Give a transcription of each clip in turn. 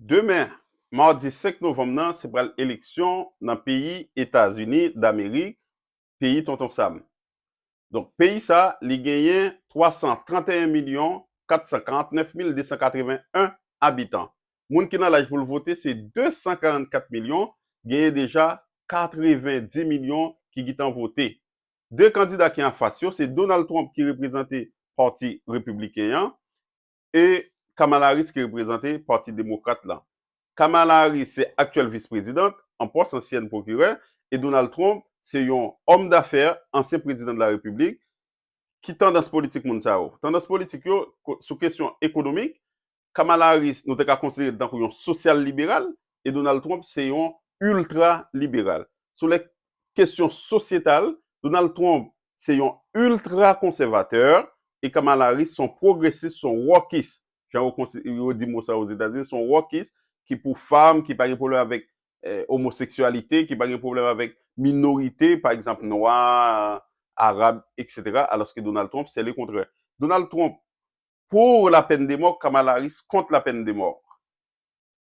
Demen, madi 5 novanm nan se pral eleksyon nan peyi Etazini Damerik, peyi Tonton Sam. Donk peyi sa li genyen 331 milyon 449 mil 281 abitan. Moun ki nan laj pou l vote se 244 milyon, genyen deja 90 milyon ki gitan vote. De kandida ki anfas yo se Donald Trump ki reprezante pati Repibliken an, e Kamala Harris ki reprezante Pati Demokrat la. Kamala Harris se aktyèl vis prezidant an pòs ansyèn pwokirè e Donald Trump se yon òm dafè ansyen prezidan de la repiblik ki tandans politik moun sa yo. Tandans politik yo sou kesyon ekonomik, Kamala Harris nou te ka konsidere tankou yon sosyal liberal e Donald Trump se yon ultra liberal. Sou lè kesyon sosyetal, Donald Trump se yon ultra konsèvatè e Kamala Harris son pwogresis, son wokis, jan yo di mo sa Ozetazini, son wokis ki pou fanm, ki pa gen pwoblèm avèk omoseksyalite, ki pa gen pwoblèm avèk minorite, pa egzanp nwa, arab, eksetera, alòske Donald Trump se le kontrè. Donald Trump pour la peine de mort, Kamala Harris contre la peine de mort.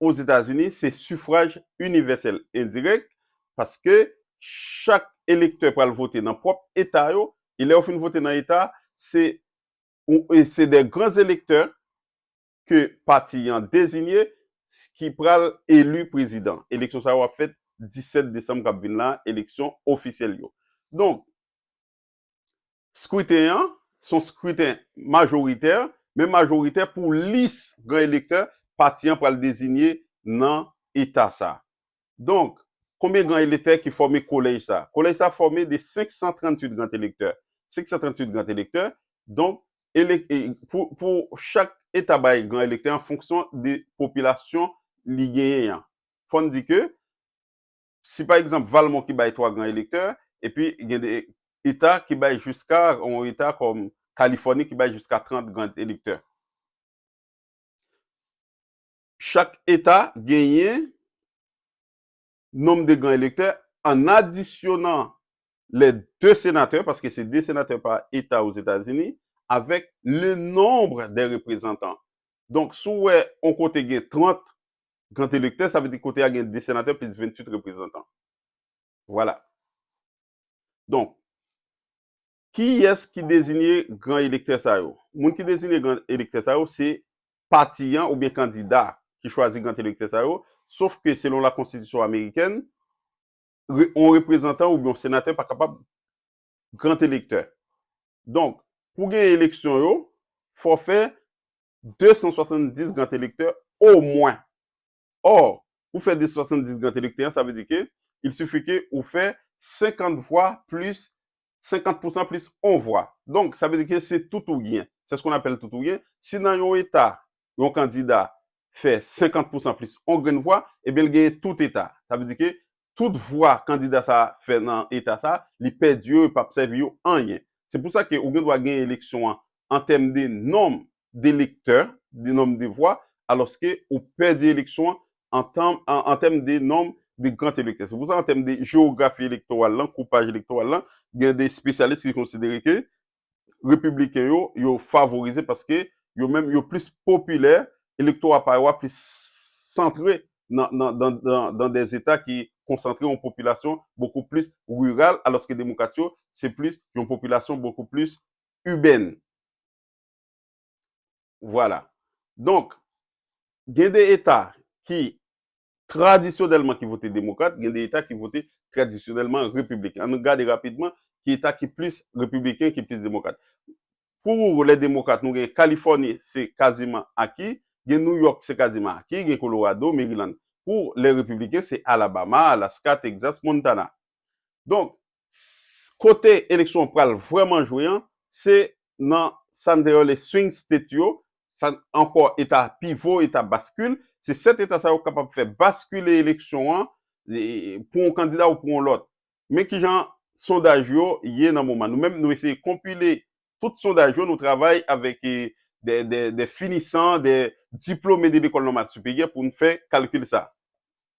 Ozetazini se sifraj inivèsèl endirèk paske chak elektè pral vote nan pwòp eta yo e lè yo fin vote nan eta se ou se de gran elektè ke pati yan dezinye ki pral eli prezidan. Eleksyon sa yo ap fèt 17 desanm kap vin la eleksyon ofisyèl yo. Donk. Skriten an se yon skriten majoritè, men majoritè pou lis gran elektè pati an pral dezinye nan eta sa. Donk, konbyen gran elektè ki fòme kolèj sa? Kolèj sa fòme de 538 gran elektè. 538 gran elektè, donk, pou chak eta bay gran elektè an fonksyon de popilasyon li genyen an. Fò n di ke, Si pa egzanp Valmont ki bay 3 gran elektè, epi gen de eta ki bay jiska, yon eta kòm Kalifòni ki bay jiska 30 gran elektè. Chak eta genyen nonm de gran elektè an adisyonan lè de senatè, paske se de senatè pa eta Ozetazini, avèk le nombre des représentants. Donk si w wè yon kote gen 30 Kant elektè, sa vle di kote a gen 2 senatè plis 28 reprezantan. Vwala. Donk, kiyès ki dezinye gran elektè sa yo? Moun ki dezinye gran elektè sa yo se pati an oubyen kandida ki chwazi gran elektè sa yo, sof ke selon lakonstitisyon amerikèn, yon reprezantan oubyen yon senatè pa kapab gran elektè. Donk, pou gen eleksyon yo, fò fè 270 gant elektè omwen. Or, pou fè 270 gant elektè an, sa vle di ke il suffit ke ou fè 50 vwa plis 50 pousan plis on vwa. Donk, sa vle di ke se tout ou gen. C'est ce qu'on appelle tout ou gen. Si nan yon eta, yon kandida fè 50 pousan plis on grenn vwa, ebyen li genyen tout eta. Sa vle di ke tout vwa kandida sa a fè nan eta sa a, li pèdi yo, yo p ap sèvi yo anyen. Se pou sa ke ou gen dwa genyen eleksyon an an tèm de nonm de lektè, de nonm de vwa, alòske ou pèdi eleksyon an an tanm, an tèm de nonm de grand elektè. Se pou sa an tèm de jewografi elektoral lan, koupaj elektoral lan, gen de espesyalis ki konsidere ke Repibliken yo, yo favorize paske yo menm yo plis popilè, elektora pa yo a plis santre nan nan dan dan dan dè zeta ki konsantre yon popilasyon bokou plis riral alòske demokrat yo se plis yon popilasyon bokou plis ibèn. Vwala. Donk, gen de eta ki tradisyonèlman ki vote demokrat, gen de eta ki vote tradisyonèlman repibliken. An nou gade rapidman ki eta ki plis repibliken, ki plis demokrat. Pou lè demokrat, nou gen Kalifòni se kaziman aki, gen New York se kaziman aki, gen Kolorado, Meriland. Pou lè repibliken se Alabama, Alaska, Texas, Montana. Donk, kote eleksyon an pral vrèman jwe an, se nan sa n te rele swing state yo, sa ankò eta pivo, eta baskil, se 7 eta sa yo k kapab fè baskile eleksyon an pou yon kandida ou pou yon lòt. Men ki jan sondaj yo ye nan moman. Nou menm nou eseye konpile tout sondaj yo, nou travay avèk dè finisan, dè diplome de lekòl nòmal siperyè pou n fè kalkil sa a.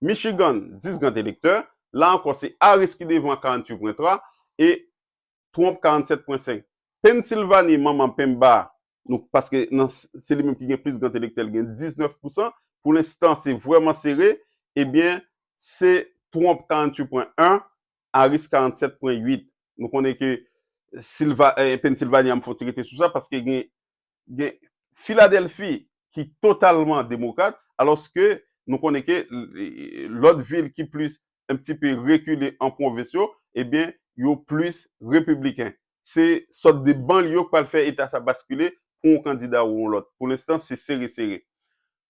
Michigan, 10 grand elektè, la ankò se Harris ki devan a 48.3 e Trump 47.5. Pennsilvani, manman penmba nou paske nan se li menm ki gen plis grand elektè li gen 19 pousan, pou lenstan se vrèman sere, ebyen se Trump 48.1, Harris 47.8. Nou konnen ke Silva, Pennsilvani a m fòti rete sou sa paske gen gen Filadelfi ki totalman demokrat, alòske nou konnen ke lòt vil ki plis un petit peu rekile an pwovens yo, ebyen yo plis repibliken. Se sòt de banlye yo k pral fè eta sa baskile pou yon kandida ou yon lòt. Pou lenstan se sere sere.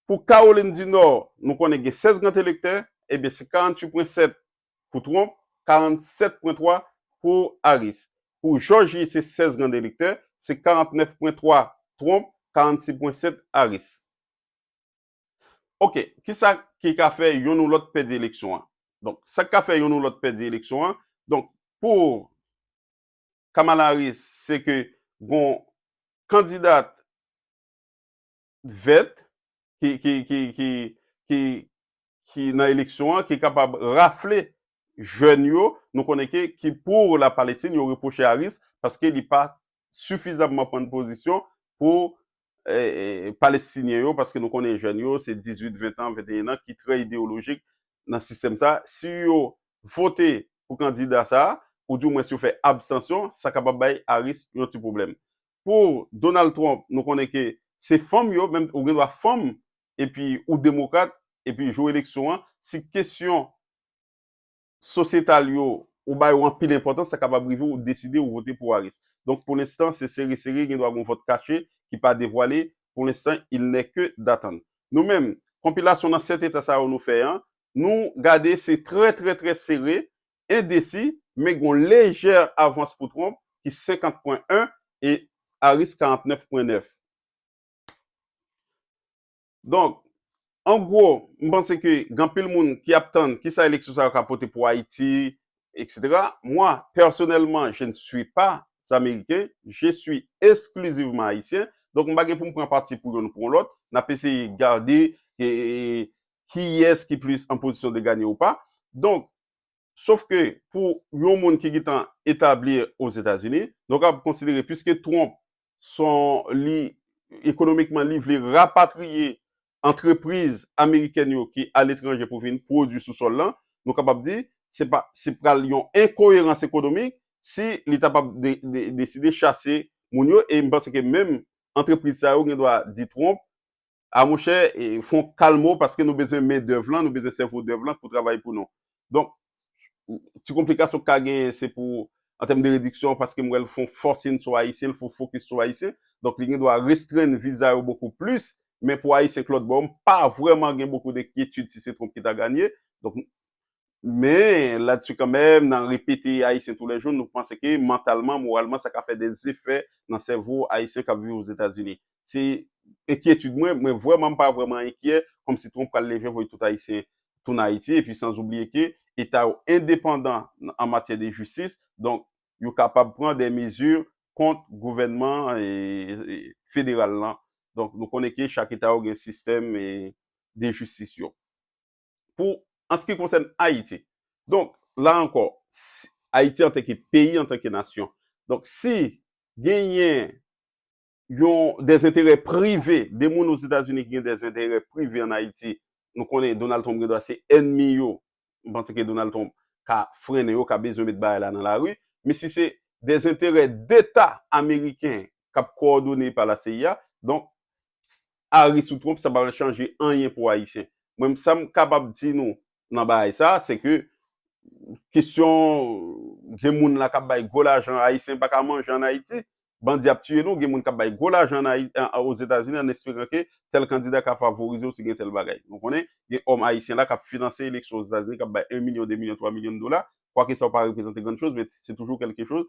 Pou Kawolin di Nò, nou konnen gen 16 grand elektè, ebyen se 48 pwen 7 pou Trump, 47 pwen 3 pou Harris. Pou Jòji se 16 grand elektè, se 49 pwen 3 Trump, 46 pwen 7 Harris. Ok, kisa ki ka fè yonn ou lòt pèdi eleksyon an? Donk, sa k ka fè yonn ou lòt pèdi eleksyon an, donk, pou Kamala Harris se ke gon kandidat vèt ki nan eleksyon an ki kapab rafle jèn yo, nou konnen ke ki pou la Palestine yo repwoche Harris paske li pa sifizamman pran pozisyon pou Palestinyen yo paske nou konnen jèn yo se 18, 20 tan, 21 nan ki trè ideyolojik nan sistèm sa a. Si yo vote pou kandida sa a ou di mwens yo fè abstansyon sa kapab bay Harris yon ti pwoblèm. pou Donald Trump nou konnen ke se fanm yo menm ou gen dwa fanm epi ou demokrat epi jou eleksyon an si kesyon sosyetal yo ou ba yo anpil enpòtans sa kapab rive ou deside ou vote pou Harris donk pou lenstan se sere sere gen dwa gen yon vòt kache ki pa devwale pou lenstan il nè ke datann nou menm konpilasyon nan 7 eta sa yo nou fè an nou gade se trè trè trè sere endesi, men gen yon lejè avans pou Trump ki 50 pwen 1 e Harris 49 pwen 9. Donk, an gwo, m panse ke gen anpil moun ki ap tann kisa eleksyon sa yo ka pote pou Ayiti, eksetera. Mwa, pèsonèlman, je ne suis pas Américain, je suis exclusivement Haïtien. Donk, m pa gen pou m pran pati pou youn ou pou yon lòt. N ap eseye gade kiyès ki plis an pozisyon de ganye ou pa. Donk, Sof ke pou yon moun ki gitan etabli Ozetazini, nou kapab konsidere piske Trump son li ekonomikman li vle rapatriye antrepriz amerikèn yo ki aletranje pou vin pwodui sou sòl lan, nou kapab di se pa se pral yon enkoyerans ekonomik si li ta pab deside chase moun yo e m panse ke menm antrepriz sa yo gen dwa di Trump a monchè fon kalmo paske nou bezwen men dèv lan nou bezwen sèvo dèv lan pou travay pou nou donk ti konplikasyon ka genyen se pou an tèm de rediksyon paske m wè l fon fòsin sou ayisyen l fon fokis sou ayisyen donk li gen dwa restrenn viza yo bokou plis men pou ayisyen k lòtbò m pa vrèman gen bokou denkyetid si se Trump ki ta ganye donk. Men, ladsu kanmenm, nan repete Ayisyen tou lè jou, nou panse ke mantalman, moralman, sa ka fè de zefè nan sèvo Ayisyen k ap viv Ozetazini. Se enkyetid mwen, men vrèman m pa vrèman enkyè, kòmsi Trump pral leve voye tout Ayisyen tounen Ayiti, epi san oubliye ke Eta yo endepandan an matyè de jistis, donk yo kapab pran de mezi kont gouvènman federal lan. Donk nou konnen ke chak Eta yo gen sistèm de jistis yo. pou an se ki konsèn Ayiti. Donk, la ankò, Ayiti an tanke peyi, an tanke nasyon. Donk, si genyen yon dezenterè prive, de moun Ozetazini ki gen dezenterè prive an Ayiti, nou konnen Donald Trump gen dwa se ènmi yo, m panse ke Donald Trump ka frennen yo, ka bezwen met bagay la nan lari. Men si se dezenterè deta ameriken k ap kowòdone pa la seyi a, donk Harris ou Trump sa pa pral chanje anyen pou Ayisyen. Mwen menm sa m kapab di nou nan bagay sa se ke kesyon gen moun la k ap bay gwo lajan Ayisyen pa ka manje ann Ayiti, bandi ap tiye nou, gen moun k ap bay gwo lajan Ozetazini ann esperan ke tèl kandida ka favorize w si gen tèl bagay. Nou konnen gen òm Ayisyen la k ap finanse eleksyon Ozetazini k ap bay 1 milyon, 2 milyon, 3 milyon dola, kwake sa pa reprezante grann choz men se toujou kèlke choz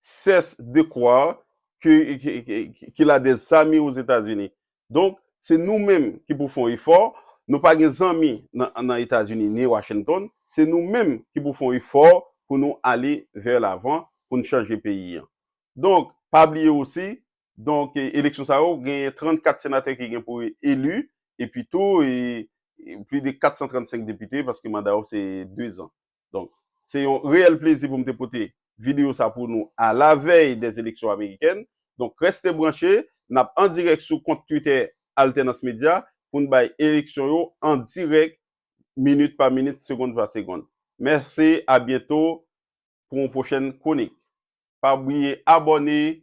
cesse de croire qu'il a des amis aux Etats-Unis. Donk, se nou menm ki pou fon efò, nou pa gen zanmi nan Etazini ni Washington, se nou menm ki pou fon efò pou nou ale vè lavan, pou nou chanje peyi an. Donk, pa bliye osi, donk, eleksyon sa yo, genyen 34 senatè ki gen pou eli, epi tou, plis de 435 depite, paske manda yo se 2 zan. Donk, se yon reyèl plezi pou m te pote videyo sa pou nou a la vèy des élections américaines. Donk, reste branche, n ap an dirèk sou kont Twitter Altènans Medya pou n bay eleksyon yo an dirèk minit pa minit, segond pa segond. Mèsi, a byento pou yon pwochèn kwonik. Pa bliye abòne.